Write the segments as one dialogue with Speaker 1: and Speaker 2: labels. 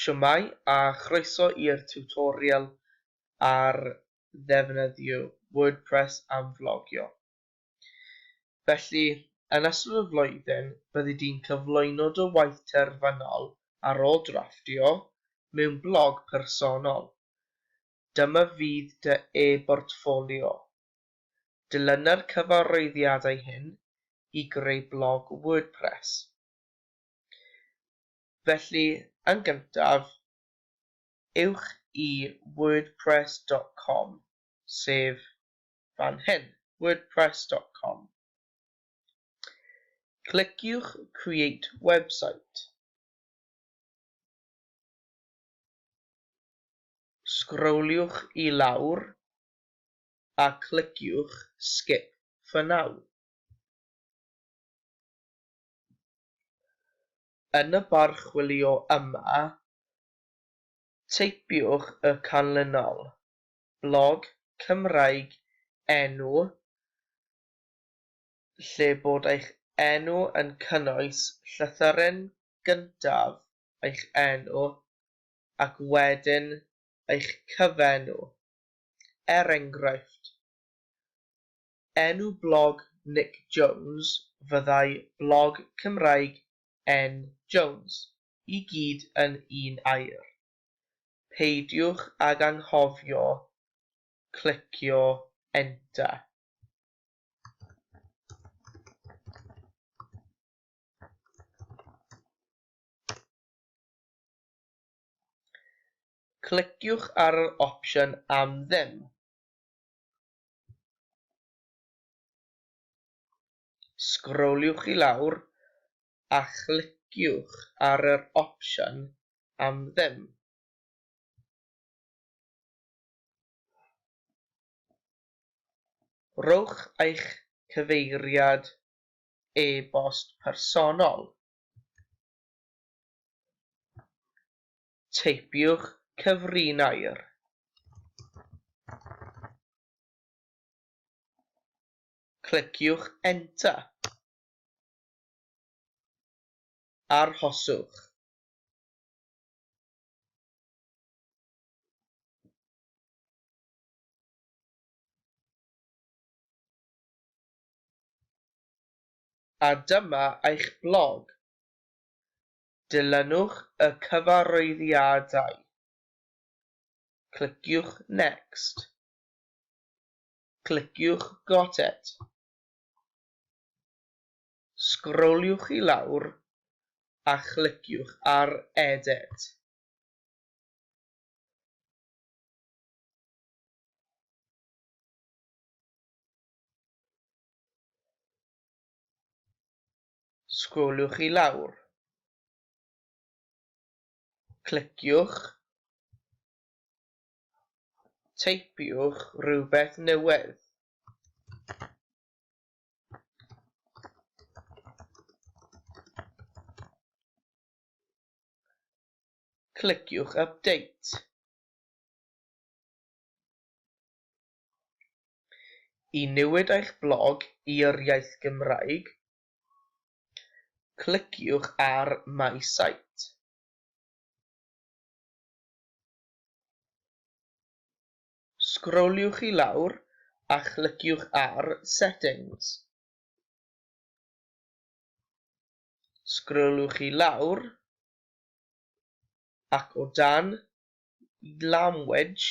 Speaker 1: Shwmae a chroeso i'r tiwtorial ar ddefnyddio WordPress am flogio. Felly, yn ystod y flwyddyn, byddi di'n cyflwyno dy waith terfynol ar ôl drafftio mewn blog personol. Dyma fydd dy e-bortffolio. Dilyna'r cyfarwyddiadau hyn i greu blog WordPress. Felly, yn gyntaf, ewch i wordpress dot com, sef fan hyn, wordpress dot com. Cliciwch Create Website. Sgroliwch i lawr a cliciwch Skip for Now. Yn y barchwilio yma, teipiwch y canlynol, blog Cymraeg enw lle bod eich enw yn cynnwys llythyren gyntaf eich enw ac wedyn eich cyfenw, er enghraifft, Enw blog Nic Jones fyddai blog Cymraeg N Jones, i gyd yn un air. Peidiwch ag anghofio clicio enter. Cliciwch ar yr opsiwn am ddim. Sgroliwch i lawr a chliciwch ar yr opsiwn am ddim. Rhowch eich cyfeiriad e-bost personol. teipiwch cyfrinair. Cliciwch Enter. Arhoswch. a dyma eich blog. Dilynwch y cyfarwyddiadau. Cliciwch Next. Cliciwch Got it. Sgroliwch i lawr a chliciwch ar Edit. sgroliwch i lawr, cliciwch, teipiwch rhywbeth newydd. Cliciwch Update. I newid eich blog i'r iaith Gymraeg, cliciwch ar My Site. Sgroliwch i lawr a chliciwch ar Settings. Sgroliwch i lawr ac o dan Language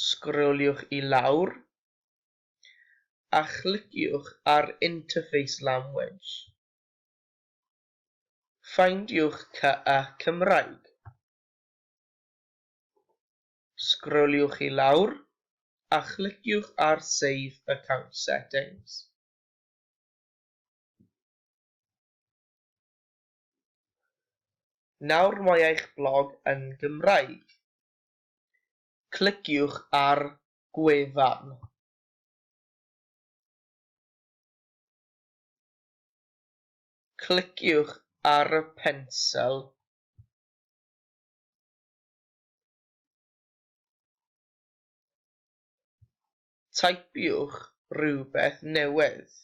Speaker 1: sgroliwch i lawr a chliciwch ar Interface Language. Ffeindiwch CA Cymraeg. Sgroliwch i lawr a chliciwch ar Save Account Settings. Nawr mae eich blog yn Gymraeg. cliciwch ar gwefan. Cliciwch ar y pensel Taipiwch rhywbeth newydd.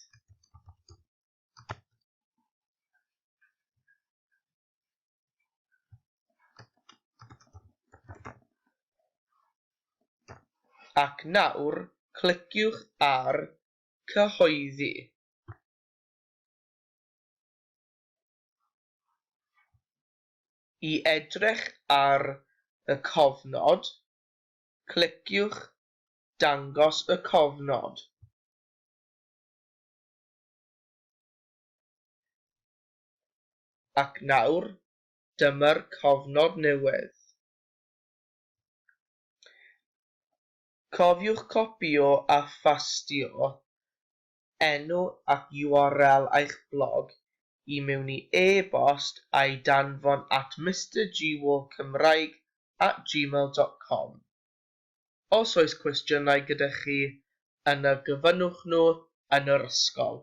Speaker 1: Ac nawr cliciwch ar 'Cyhoeddi'. I edrych ar y cofnod, cliciwch 'Dangos y cofnod'. Ac nawr, dyma'r cofnod newydd. Cofiwch copïo a phastio enw ac url eich blog i mewn i e-bost a'i danfon at mistergwalkcymraeg at gmail dot com. Os oes cwestiynau gyda chi, yna gofynnwch nhw yn yr ysgol.